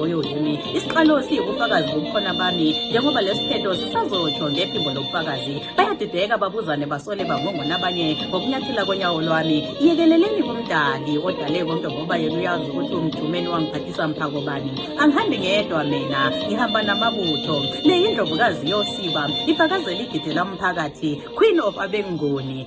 Oyo yimi isiqalo siyibufakazi bobukhona bami njengoba lesiphetho sisazotsho ngephimbo lobufakazi bayadideka babuzane basole bangongona abanye ngokunyathela konyawo lwami yekeleleni kumdali odale konke ngoba yena uyazi ukuthi umjumeni wangiphathisa mphako bani angihambi ngedwa mina ngihamba namabutho le yindlovukazi yosiba ifakazela igide lamphakathi queen of abengoni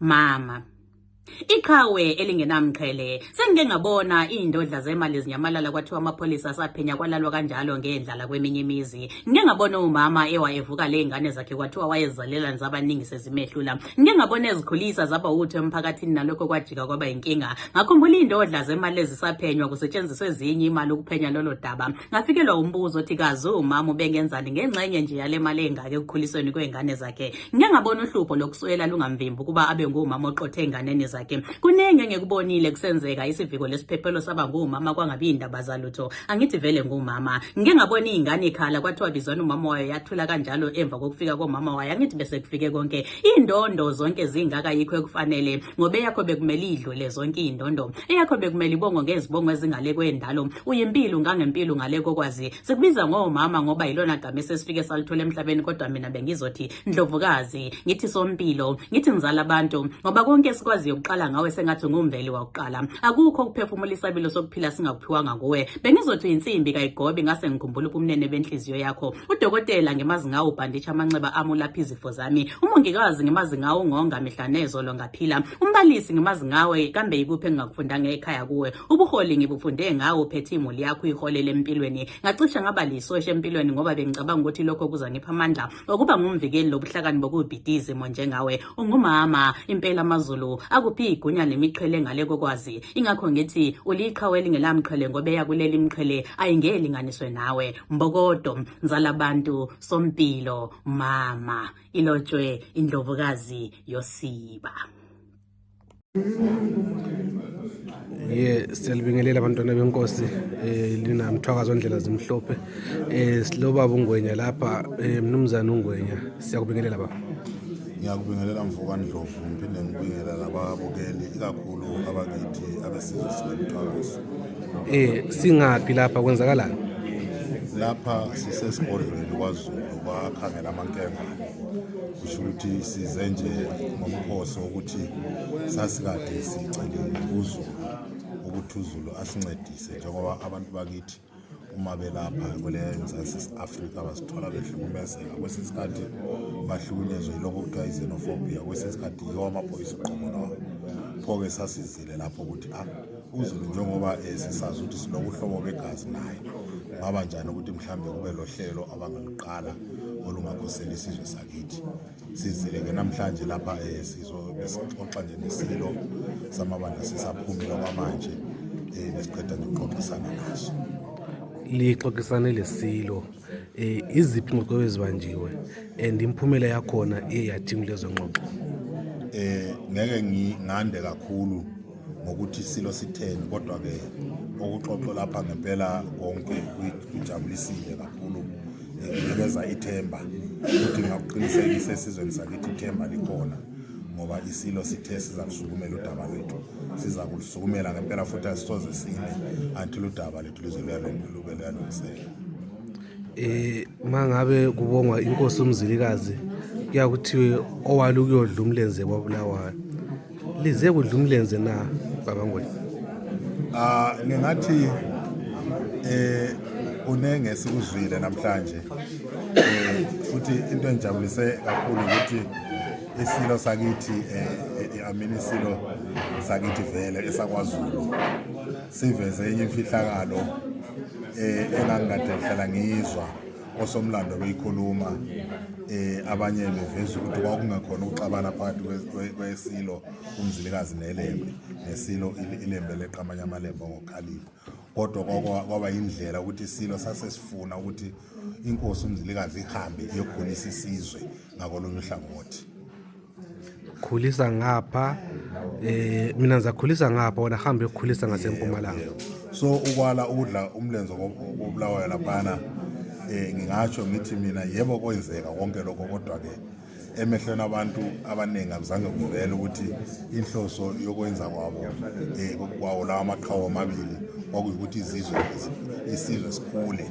mama iqhawe elingenamqhele sengike ngabona iy'ndodla zemali zinyamalala kwathiwa amapholisa asaphenya kwalalwa kanjalo ngendlala kweminye imizi ngike ngabona umama ewayevuka ley'ngane zakhe kwathiwa wayezalela nizabaningi sezimehlula ngike ngabona ezikhulisa zaba wutho emphakathini nalokho kwajika kwaba yinkinga ngakhumbula iy'ndodla zemali ezisaphenywa kusetshenziswa ezinye imali ukuphenya lolo daba ngafikelwa umbuzo othi kazi umama ubengenzani ngengxenye nje yale mali engake ekukhulisweni kwey'ngane zakhe zakhe ngike ngabona uhlupho lokuswela lungamvimbi ukuba abe ngumama oqothe enganeni zakhe kuningi engikubonile kusenzeka isiviko lesiphephelo saba ngumama kwangabi indaba zalutho angithi vele ngumama ngike ngabona ingane ikhala kwathiwa bizwana umama wayo yathula kanjalo emva kokufika komama wayo angithi bese kufike konke indondo zonke zingaka yikho ekufanele ngoba eyakho bekumele idlule zonke indondo eyakho bekumele ibongo ngezibongo ezingale kwendalo uyimpilo ngangempilo ngale kokwazi Sikubiza ngomama ngoba yilona gama esesifike salithola emhlabeni kodwa mina bengizothi ndlovukazi, ngithi sompilo, ngithi ngizala abantu ngoba konke esikwaziyo ukuqala ngawe sengathi ngumveli wakuqala. Akukho ukuphefumula isabelo sokuphila singakuphiwanga kuwe. Bengizothi uyinsimbi kayigobi ngase ngikhumbula ubumnene benhliziyo yakho. Udokotela ngimazi ngawo ubhanditsha amanxeba ami ulapha izifo zami. Umongikazi ngimazi ngawo ungonga mihla nezolo ngaphila. Umbalisi ngimazi ngawe kambe yikuphi engingakufundanga ekhaya kuwe. Ubuholi ngibufunde ngawo phethe imuli yakho uyiholele empilweni. Ngacishe ngaba lisosha empilweni ngoba bengicabanga ukuthi lokho kuzangipha amandla okuba ngumvikeli lobuhlakani bokubhida izimo njengawe. Ungumama impela amazulu akuphi igunya nemiqhele ngale kokwazi. Ingakho ngithi uliqhawe elingelamqhele ngoba eyakuleli imqhele ayingelinganiswe nawe. Mbokodo nzala bantu sompilo mama ilotshwe indlovukazi yosiba. ye siyalibingelela abantwana benkosi eh lina mthwakazo ndlela zimhlophe eh silobaba ungwenya lapha eh mnumzana ungwenya siyakubingelela baba ngiyakubingelela mfoka ndlovu ngiphinde ngibingelela lababukeli ikakhulu abakithi abesizwe sikamthwakazo eh singaphi lapha kwenzakalani lapha sisesigodlweni kwazulu bakhangela amankemba kusho ukuthi size nje ngomphoso ukuthi sasikade sicelile kuzulu ukuthi uzulu asincedise njengoba abantu bakithi uma belapha kule mzansi afrika bazithola behlukumezeka kwesinye isikhathi bahlukunyezwe yilokho kuthiwa izenophobia kwesinye isikhathi yiwo amaphoyisa uqobo lwawo pho-ke sasizile lapho ukuthi a ah, uzulu njengoba eh, sisazi ukuthi sinokuhlobo begazi naye kungaba njani ukuthi mhlawumbe kube lo hlelo abangaluqala olungakhosela isizwe sakithi sizile ke namhlanje lapha um eh, sizobesixoxa nje nesilo samabandla sisaphumile kwamanje um besiqeda nje ukuxoxisana naso lixoxisane lesilo eh iziphi ingxoxo ezibanjiwe and imphumela yakhona iye yathinga lezo ngxoxo eh ngeke ngande kakhulu ngokuthi silo sitheni kodwa-ke okuxoxo lapha ngempela konke kujabulisile kakhulu kunikeza ithemba futhi ngakuqinisekisa esizweni sakithi ithemba likhona ngoba isilo sithe siza kusukumela udaba lwethu siza kulusukumela ngempela futhi asisoze sine until udaba lethu lize lube luyalungiseka eh mangabe kubongwa inkosi umzilikazi kuyakuthiwe owalukuyodla umlenze kwabulawayo lize kudla umlenze na baba ngwenya ah ngingathi eh kunenge esikuzwile namhlanje eh, futhi into engijabulise kakhulu ukuthi isilo sakithi eh, eh, amini isilo sakithi vele esakwazulu siveze enye imfihlakalo eh engangikade ngihlala ngiyizwa osomlando beyikhuluma eh abanye beveza ukuthi kwakungakhona ukuxabana phakathi kwesilo umzilikazi nelembe nesilo ilembe leqamanye amalembe ngokhalipha kodwa kwaba indlela ukuthi isilo sasesifuna ukuthi inkosi umzilikazi ihambe iyokhulisa isizwe ngakolunye uhlangothi khulisa ngapha eh mina ngizakhulisa ngapha wena hamba yokukhulisa ngasempumalanga so ukwala udla umlenze kobulawayo laphana eh ngingatsho ngithi mina yebo kwenzeka konke lokho kodwa ke emehlweni abantu abaningi akuzange kuvele ukuthi inhloso yokwenza kwabo um kwawo lawa maqhawe amabili kwakuyukuthi izizwe isizwe sikhule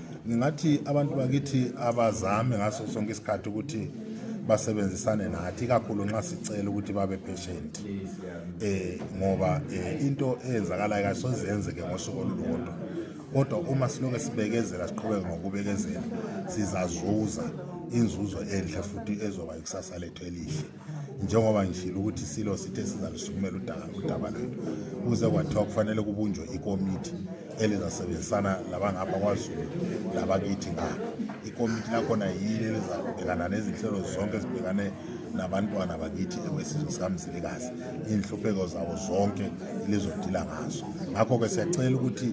ngingathi abantu bakithi abazame ngaso sonke isikhathi ukuthi basebenzisane nathi kakhulu nxa sicela ukuthi babe patient eh ngoba eh, into eyenzakalayo kasoze yenzeke ngosuku olulodwa kodwa uma siloke sibekezela siqhubeke ngokubekezela sizazuza inzuzo enhle futhi ezoba ikusasa lethu elihle njengoba ngishilo ukuthi silo sithe sizalusukumela udaba udaba lwethu kuze kwathiwa kufanele kubunjwe ikomiti elizasebenzisana labangapha kwazulu labakithi ngapha ikomiti lakhona yile elizabhekana nezinhlelo zonke ezibhekane nabantwana bakithi ekwesizwe sikamzilikazi iy'nhlupheko zabo zonke lizodila ngazo ngakho-ke siyacela ukuthi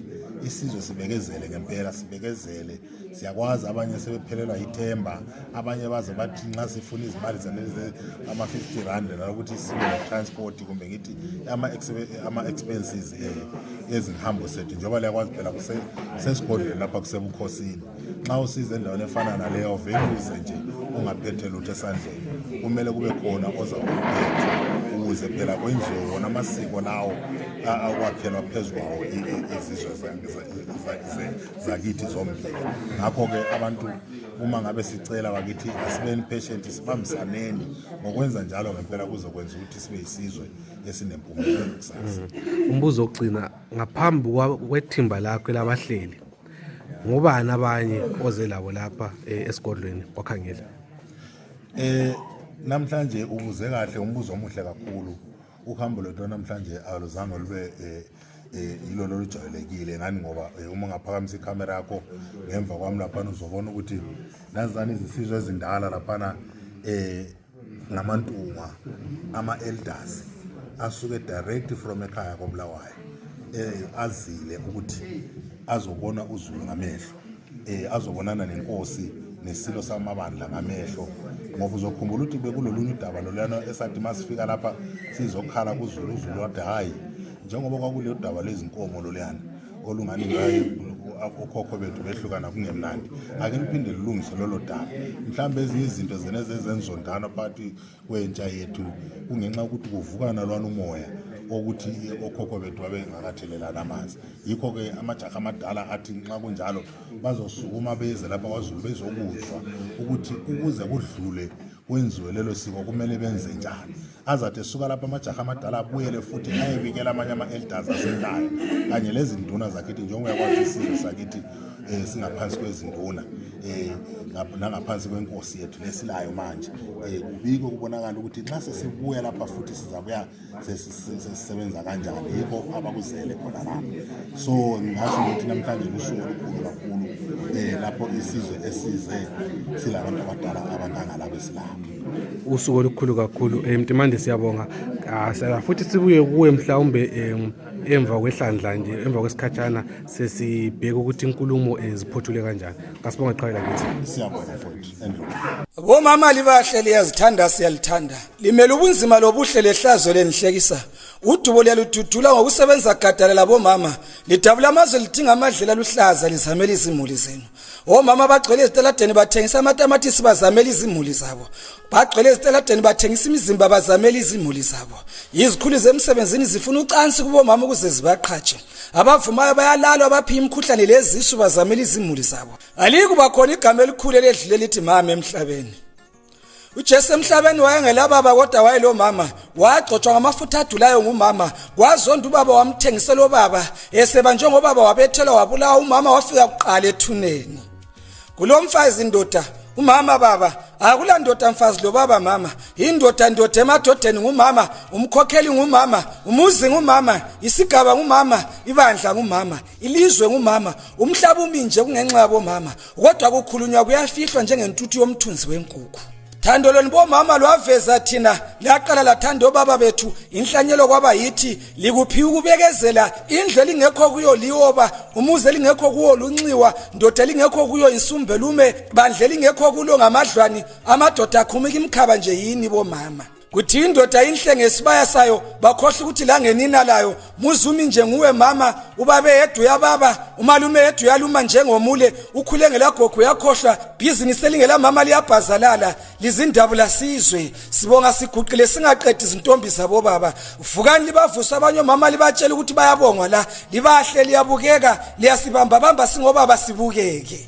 isizwe sibekezele ngempela sibekezele siyakwazi abanye sebephelelwa yithemba abanye baze bathi nxa sifuna izimali zalezi ama-50 rand nalokuthi sibe ne-transport kumbe ngithi ama-expenses eh, ezinhambo sethu njengoba liyakwazi phela sesigodlweni lapha kusebukhosini nxa usize endaweni efana naleyo vele uze nje ungaphethe lutho esandleni kumele kube khona oza ukuphetha ukuze phela kwenziwe wona amasiko lawo akwakhelwa phezu kwawo izizwe zethu zakithi zombili ngakho-ke abantu uma ngabe sicela bakithi asibeni patient sibambisaneni ngokwenza njalo ngempela kuzokwenza ukuthi sibe yisizwe esinempumelelo kusasa mm. umbuzo ogcina ngaphambi kwethimba lakho elabahleli ngobani abanye oze labo lapha eh, esigodlweni kwakhangela eh namhlanje ubuze kahle umbuzo omuhle kakhulu uhambo lwethu namhlanje aluzange lube eh, eh ilona olujwayelekile ngani ngoba eh, uma ungaphakamisa ikhamera yakho ngemva kwami laphana uzobona ukuthi nazani izisizwe ezindala laphana eh ngamantunga ama-elders asuke direct from ekhaya kobulawayo eh azile ukuthi azobona uzulu ngamehlo eh azobonana nenkosi nesilo samabandla ngamehlo ngoba uzokhumbula ukuthi bekulolunye udaba loluyana esathi masifika lapha sizokhala kuzulu uzulu wathi hayi njengoba kwakuleyo daba lezinkomo loluyana olungani ngayo okhokho bethu behlukana kungemnandi ake liphinde lilungise lolo daba mhlawumbe ezinye izinto zena zezenzondana phakathi kwentsha yethu kungenxa yokuthi kuvukana lwana umoya okuthi okhokho bethu babengakathelelani amanzi yikho-ke amajaha amadala athi nxa kunjalo bazosukuma beze lapha kwazulu bezokuzwa ukuthi ukuze kudlule kwenziwe lelo siko kumele benze njani azathi esuka lapha amajaha amadala abuyele futhi ayebikela amanye ama-elders asekhaya kanye lezinduna zakithi njengoba uyakwazi isizwe sakithi eh singaphansi kwezinduna eh nangaphansi kwenkosi yethu lesilayo manje eh kubiko kubonakala ukuthi nxa sesibuya lapha futhi sizabuya sesisebenza kanjani yikho abakuzele khona lapha so ngasho ukuthi namhlanje lusuku olukhulu kakhulu eh lapho isizwe esize silabantu abadala abanganga lapha esilapha usuku olukhulu kakhulu eh mtimande siyabonga ah, futhi sibuye kuwe mhlawumbe eh, emva kwehlandla nje emva kwesikhatshana sesibheka ukuthi inkulumo eh, ziphothule kanjani kasibonga qhawela kithi siyabonga futhi bomama libahle liyazithanda siyalithanda limele ubunzima lobuhle lehlazo lenihlekisa udubo liyalududula ngokusebenza gadala labomama lidabula amazwe lidinga amadlela aluhlaza lizamela izimuli zenu omama bagcwele ezitaladeni bathengisa amatamatisi bazamela izimuli zabo bagcwele ezitaladeni bathengisa imizimba bazamela izimuli zabo yizikhulu zemsebenzini zifuna ucansi kubomama ukuze zibaqhatshe Abavumayo bayalalwa abaphiya imikhuhlane lezisu bazamela izimuli zabo. Alikuba khona igama elikhulu eledlule lithi mama emhlabeni. uJesu emhlabeni wayengelababa kodwa wayelo mama wagcotshwa ngamafutha adulayo ngumama kwazonda ubaba wamthengisela obaba eseba njengobaba wabethelwa wabulawa umama wafika kuqala ethuneni kulo mfazi indoda umama baba akula ndoda mfazi lo baba mama indoda ndoda emadodeni ngumama umkhokheli ngumama umuzi ngumama isigaba ngumama ibandla ngumama ilizwe ngumama umhlaba uminje kungenxa yabomama kodwa kukhulunywa kuyafihlwa njengentuthu yomthunzi wenkukhu Thando lwenu bomama lwaveza thina laqala lathanda obaba bethu inhlanyelo kwaba yithi likuphiwa ukubekezela indlu elingekho kuyo liyoba umuzi elingekho kuwo lunxiwa ndoda elingekho kuyo insumbelume bandla elingekho kulo ngamadlwani amadoda akhumika imkhaba nje yini bomama kuthi indoda inhle ngesibaya sayo bakhohle ukuthi la ngenina layo muzumi nje nguwe mama ubabe yedwa uyababa umalume yedwa uyaluma njengomule ukhule ngelagogo uyakhohlwa bhizinisi elingelamama liyabhazalala lizindabu lasizwe sibonga siguqile singaqedi izintombi zabobaba vukani libavuse abanye omama libatshela ukuthi bayabongwa la libahle liyabukeka liyasibambabamba singobaba sibukeke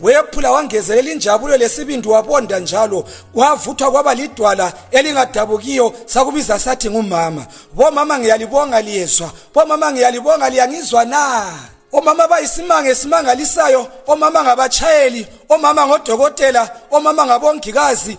Wephula wangezelela injabulo lesibindi wabonda njalo kwavuthwa kwaba lidwala elingadabukiyo sakubiza sathi ngumama bomama ngiyalibonga liyezwa bomama ngiyalibonga liyangizwa na omama bayisimanga esimangalisayo omama ngabachayeli omama ngodokotela omama ngabongikazi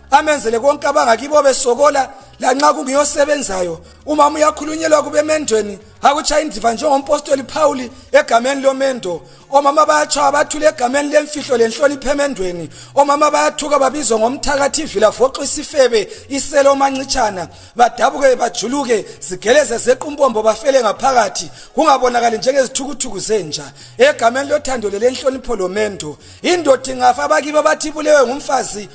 amenzele konke abangakibo besokola lanxa kungiyosebenzayo uma uyakhulunyelwa kubemendweni akuchaya indiva njengompostoli Phawuli egameni lomendo omama bayatshaya bathule egameni lemfihlo lenhlonipho emendweni omama bayathuka babizwa ngomthakathi ivila voxo isifebe iselo mancitshana badabuke bajuluke zigeleze zequmbombo bafele ngaphakathi kungabonakali njengezithukuthuku zenja egameni lothando lelenhlonipho lomendo indoda ingafa abakibo bathi ibulewe ngumfazi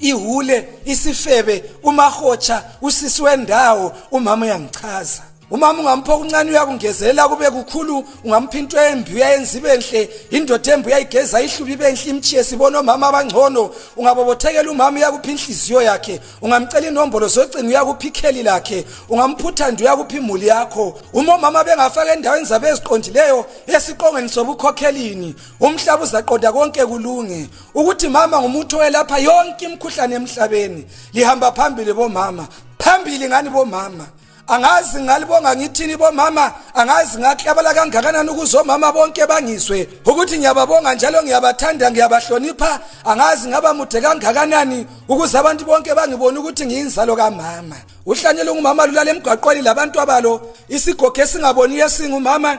ihule isifebe umahotsha usisi wendawo umama uyangichaza umama ungampha okuncane uyakungezela kube kukhulu ungampha into embi uyayenza ibe nhle indoda embi uyayigeza ihlubi ibe nhle imchiye sibona omama abangcono ungabobothekela umama uyakupha inhliziyo yakhe ungamcela inombolo zocingo uyakupha ikheli lakhe ungamphuthanda uyakupha imuli yakho uma omama bengafaka endaweni zabo eziqondileyo esiqongweni sobukhokhelini umhlaba uzaqonda konke kulunge ukuthi mama ngumuntu oyelapha yonke imikhuhlane emhlabeni lihamba phambili bomama phambili ngani bomama angazi ngalibonga ngithini bomama angazi ngaklabala kangakanani ukuze omama bonke bangizwe ukuthi ngiyababonga njalo ngiyabathanda ngiyabahlonipha angazi ngaba mude kangakanani ukuze abantu bonke bangibone ukuthi ngiyinzalo kamama uhlanyela ungumama lulala emgwaqweni labantu abalo isigogo esingaboniyo esingumama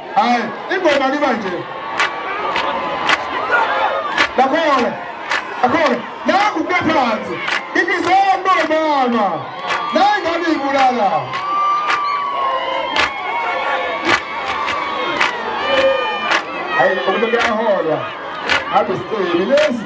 Hayi, ingoma liba nje. Lakhona. Lakhona. Nangu kuphansi. Ngikizela mntwana. Nayi ngani ibulala. Hayi, umuntu uyahola. Ngabe siceli lezi.